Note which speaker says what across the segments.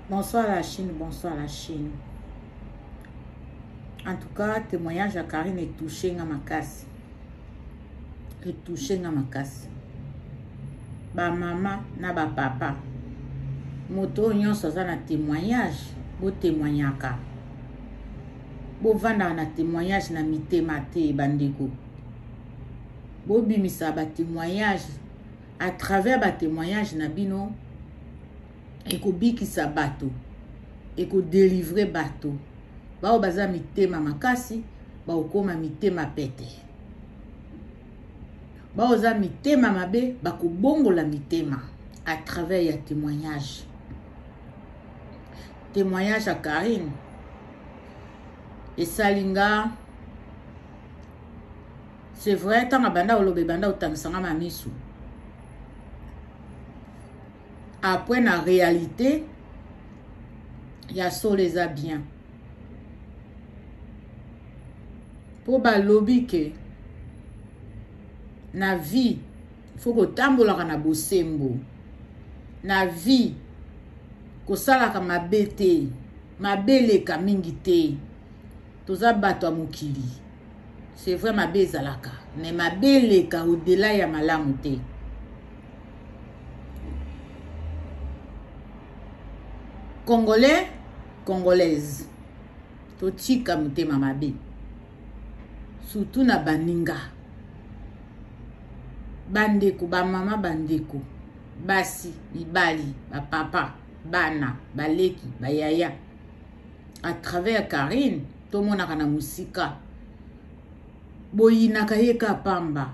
Speaker 1: Bonsoir la Chine, bonsoir la Chine. En tout cas, témoignage ya Karine etouche nga makasi. Etouche nga makasi. Ba mama na ba papa. Moto oyo nyonso aza na témoignage, bo témoignaka. Bo vandaka na témoignage na mitema te bandeko. Bo bimisa ba témoignage à travers ba témoignage na bino ekobikisa bato ekodelivre bato baoyo baza mitema makasi bakokoma mitema pete baoyo oza mitema mabe bakobongola mitema à travers ya témoignage témoignage ya karine esali nga C'est vrai, tanga banda olobe banda otangisa nga mamisu. Après na réalité ya solo eza bien. Po balobi ke na vie faut kotambolaka na bosembo. Na vie kosalaka mabe te, mabe eleka mingi te. Toza bato ya mokili. C'est vrai mabe ezalaka mais mabe eleka au-delà ya malamu te. Congolais, congolaise totika motema mabe surtout na baninga bandeko bamama bandeko basi mibali bapapa bana baleki bayaya à travers Carine tomonaka na mosika boyinaka ye ka pamba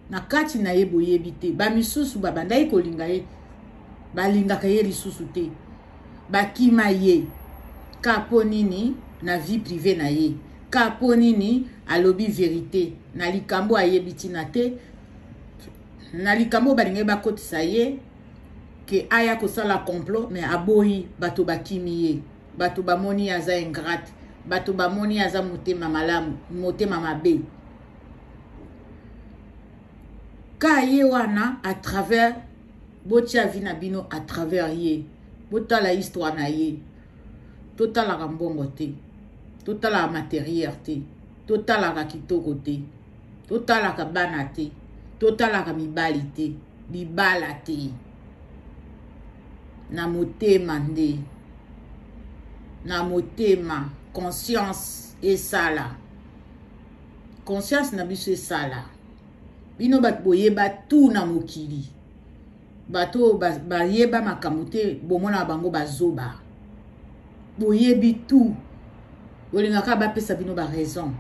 Speaker 1: na kati na ye boyebi te bamisusu babandaki kolinga ye balingaka ye lisusu te bakima ye ka mpo nini na vie prive na ye ka mpo nini alobi verite na likambo ayebi ntina te na likambo balingaki bakotisa ye ke aya kosala complot me aboyi bato bakimi ye bato bamoni aza ingrate bato bamoni aza motema malamu motema mabe ka ye wana à travers botya vi na bino à travers ye botala histoire na ye totalaka mbongo te totalaka materiel te totalaka kitoko te totalaka bana te totalaka mibali te libala te na motema nde na motema conscience esala conscience na biso esala bino bato boyeba tu na mokili bato oyo bayeba makambo te bomonaka bango bazoba boyebi tout bolingaka bapesa bino baraison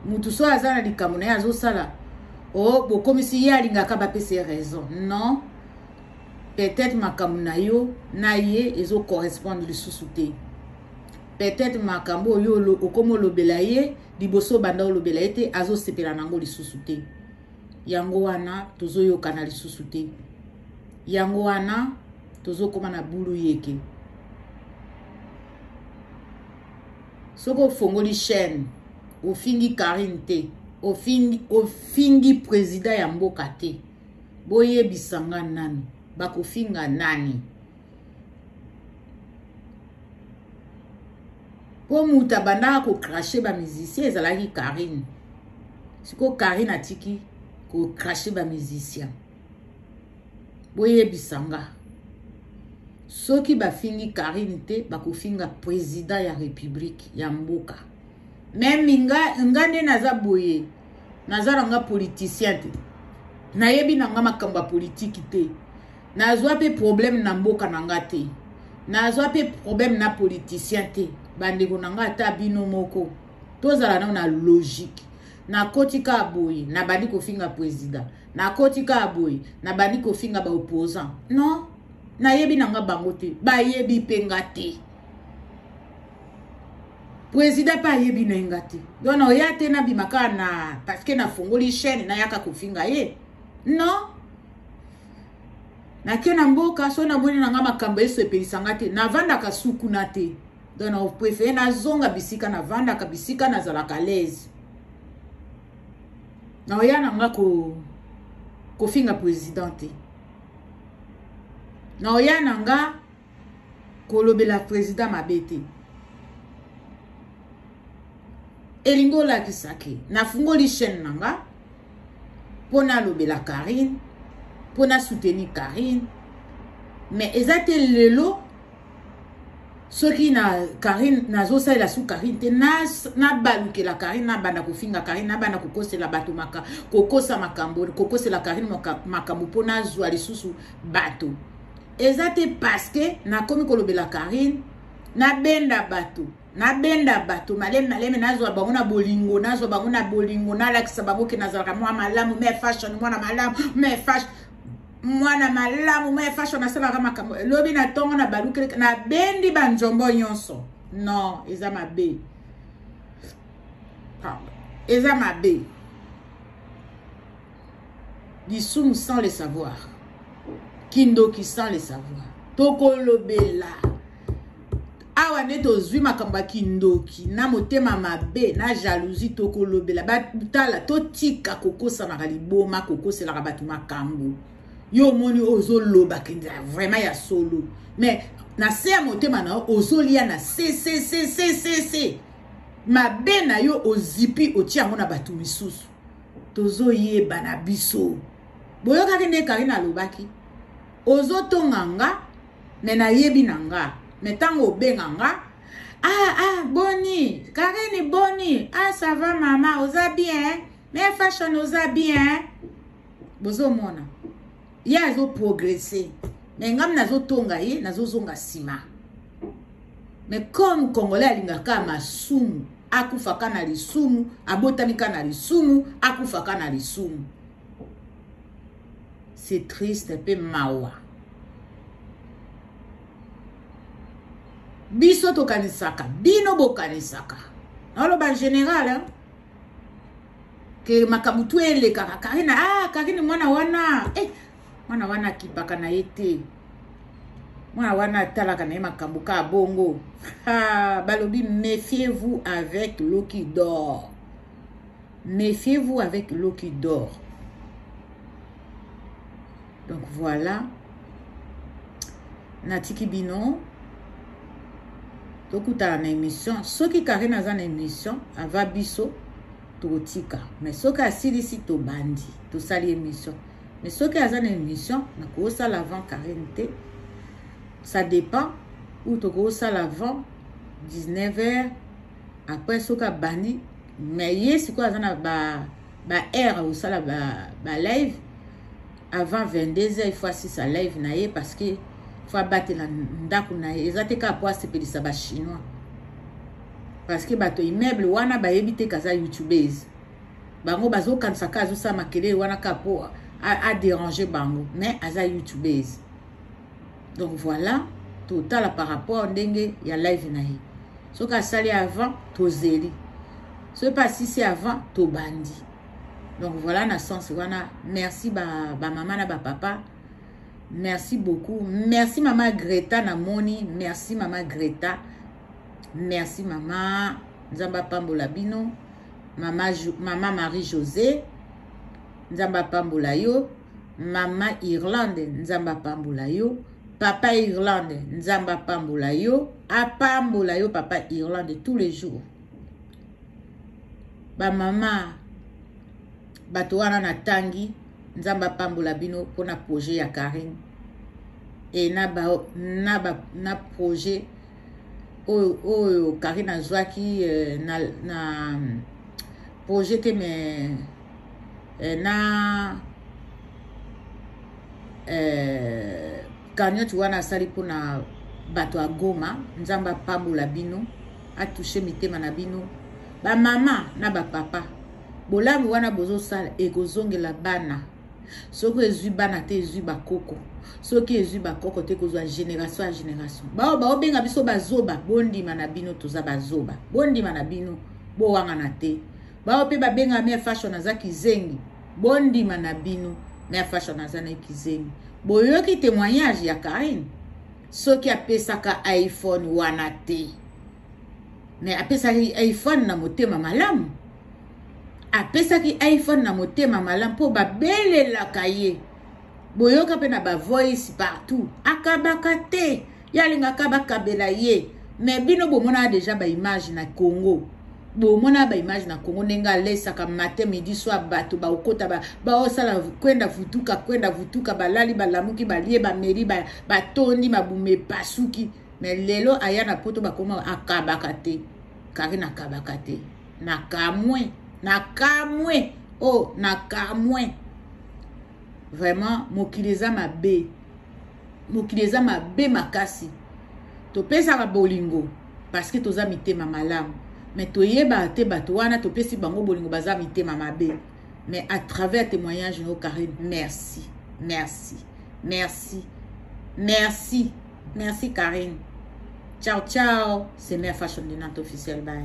Speaker 1: motu soki aza na likambo na ye azosala o oh, bokomisi ye alingaka bapesa ye raison non peut-être makambo na yo na ye ezocorrespondre lisusu te peut-être makambo oyo okomi olobela ye liboso obanda olobela ye te azosepela na yango lisusu te yango wana tozoyokana lisusu te yango wana tozokoma na bulu yeke soki ofongoli chaîne ofingi karine te ofingi, ofingi président ya mboka te boyebisa nga nanu bakofinga nani po moto abandaka kocrashe bamusicien ezalaki karine sikoyo karine atiki kocrashe bamusicien boyebisa nga soki bafingi karine te bakofinga president ya republike ya mboka meme nga, nga nde naza boye naza na nga politicien te nayebi na nga makambo ya politiki te Nazwa pe problème na mboka na nga te. Nazwa pe problème na politicien te. Bandeko na nga ata bino moko. Tozala nao na logique. Nakoti kaka boye, nabandi kofinga president. Nakoti kaka boye, nabandi kofinga ba opposant. Non, nayebi na nga bango te. Bayebi pe nga te. President pe ayebi na ye nga te. Donc na oya te nabima kaka na parce que nafongoli chaîne nayaka kofinga ye. Non. nake na mboka soki namoni na ngai makambo esepelisa ngai te navandaka sukuna te donc na prefere nazonga bisika navandaka bisika nazalaka laise naoya na ngai ko kofinga président te naoya na ngai kolobela president mabe te elingi olakisa ke nafungoli chaîne na nga mpo nalobela karine mpo nasoutenir karine mais eza te lelo soki na karine nazosalela su karine te nabalukela na karine nabanda kofinga karine nabanda kokosela bato maka, kokosa makambo kokosela karine makambo mpo nazwa lisusu bato eza te parceke nakomi kolobela karine nabenda bato nabenda bato malemi malemi nazwa bango na bolingo nazwa bango na bolingo nalakisa bango ke nazalaka mwa malamu me fashion mwana malamu me fashion mwana malamu me fashion nasalaka makambo lobi na ntongo na balukeli nabendi banzombo nyonso non eza mabe eza mabe lisumu sans le savoir kindoki sans le savoir tokolobela awa nde tozwi makambo ya kindoki na motema mabe na jalousie tokolobela batala totika kokosanaka liboma kokoselaka bato makambo yo omoni oyo ozoloba kenza vraiment ya solo mais na se ya motema na yo ozolia na sesesesesese mabe na yo ozipi otia yango na bato misusu tozoyeba na biso boyokaki nde karine alobaki ozotonga nga me nayebi na nga me ntango obenga nga ah ah boni karine boni ah ça va mama oza bien me fashion oza bien bozomona ye azo progresser mais ngami nazotonga ye nazozonga nsima mais comme congolais alingaka masumu akufaka na lisumu abotami ka na lisumu akufaka na lisumu c'est triste mpe mawa biso tokanisaka bino bokanisaka naoloba général hein? ke makambo tu elekaka karine ah karine mwana wana eh, mwana wana akipaka na ye te mwana wana atalaka na ye makambo kaka bongo ah, balobi méfiez vous avec l'eau qui dort méfiez vous avec l'eau qui dort donc voilà natiki bino tokutana na émission soki karine aza na émission ava biso tokotika mais soki asilisi tobandi tosali émission mais soki aza na émission nakosala avant karine te ça dépend ou tokosala avant 19 heures après soki abandi mais ye sikoyo aza na ba ba heure akosala ba, ba live avant 22 heures il faut asisa live na ye parce que faut abatela ndako na ye eza te kaka mpo asepelisa bachinois parce que bato immeuble wana bayebi te kaza youtubese bango bazokanisa kaka azosala makelele wana kaka mpo aderange bango mais aza youtubese donc voilà totala par rapport ndenge ya live na ye soki asali avant tozeli soki mpe asisi avant tobandi donc voilà na sens wana merci bamama ba, ba na bapapa merci beaucoup merci mama greta namoni merci mama greta merci mama nzambe apambola bino mama, mama marie josé nzambe apambola yo mama irlande nzambe apambola yo papa irlande nzambe apambola yo apambola yo papa irlande tous les jours bamama bato wana natangi nzambe apambola bino mpona projet ya karine e na, ba, na, ba, na projet oyo oyo karine azwaki eh, na, na projet te mais eh, na eh, cagnote wana asali mpona bato ya goma nzambe apambola bino atouche mitema na bino bamama na bapapa bolamu wana bozosala ekozongela bana soki ezwi bana te ezwi bakoko soki ezwi bakoko te kozwa génération ya génération baoyo baobenga biso bazoba bondima na bino toza bazoba bondima na bino bowangana te Bawa pe babenga mère fashion aza kizengi. Bondima na bino mère fashion aza na kizengi. Boyoki témoignage ya Karine soki apesaka iPhone wana te. Mais apesaki iPhone na motema malamu. Apesaki iPhone na motema malamu mpo babelelaka ye. boyoka mpe na bavoice partout akabaka te ye alingaka bakabela ye me bino bomonaka deja baimage na congo bomona baimage na congo ndenge alesaka matin midi soir bato bakokota baosala kwenda vutuka kwenda vutuka balali balamuki balie bameli batondi mabuma epasuki me lelo aya na poto bakoma akabaka te kari nakabaka te nakamwe nakamwe o oh, nakamwe vraiment mokili eza mabe mokili eza mabe makasi topesaka bolingo parce que toza mitema malamu me toyebaka te bato wana topesi bango bolingo baza mitema mabe mais à travers témoignage no carine merci merci merci merci merci carine ciao ciao c'est mère fashion de nante officiel bye